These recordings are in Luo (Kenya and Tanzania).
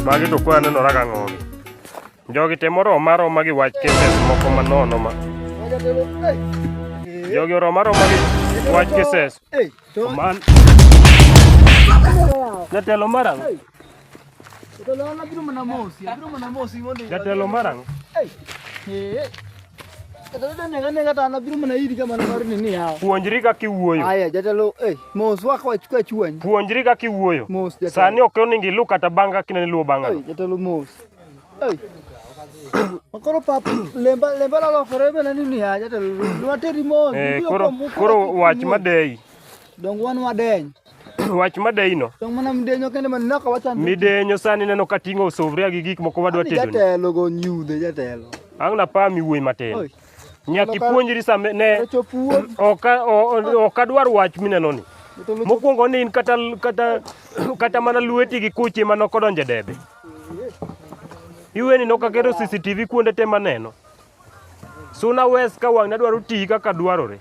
Magi to kwa nenora ka ng'ogi. Jogi te moro maro magi wach cases moko manono ma. Jogi oro maro magi wach cases. Man. Jatelo mara. Jatelo marang'. Puonjri kaka iwuoyo. Aya jatelo eh mos wako achukua chuany. Puonjri kaka iwuoyo. Mos jatelo. Sani ok oningi lu kata banga kinani luo banga. Ei jatelo mos. Ei. Makoro pap lemba lemba la lokore bana ni ni ya jatelo. Dwa teri mos. Eh koro koro wach madei. Dong wan wadeny. wach madeyino midenyo sani neno ka ting'o suvria gi gik moko wadwa tedo ang' napami wuoyi matin nyaka ipuonjri sa ne ok adwar wach minenoni mokwongo ni in kata, kata, kata mana lweti gi kuchi ma nokodonje debe iweni nokaketo cctv kuonde te maneno Suna West ka wang'ni adwaro tiyi kaka dwarore.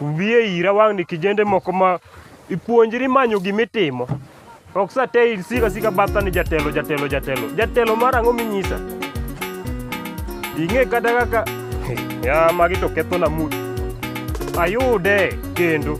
Wiye ira wang'ni kijende moko ma ipuonjri manyo gimitimo. Ok sa te isika sika batha ni jatelo jatelo jatelo. Jatelo mar ang'o minyisa? Ing'e kata kaka ya magi to ketho na mood. Ayude kendo.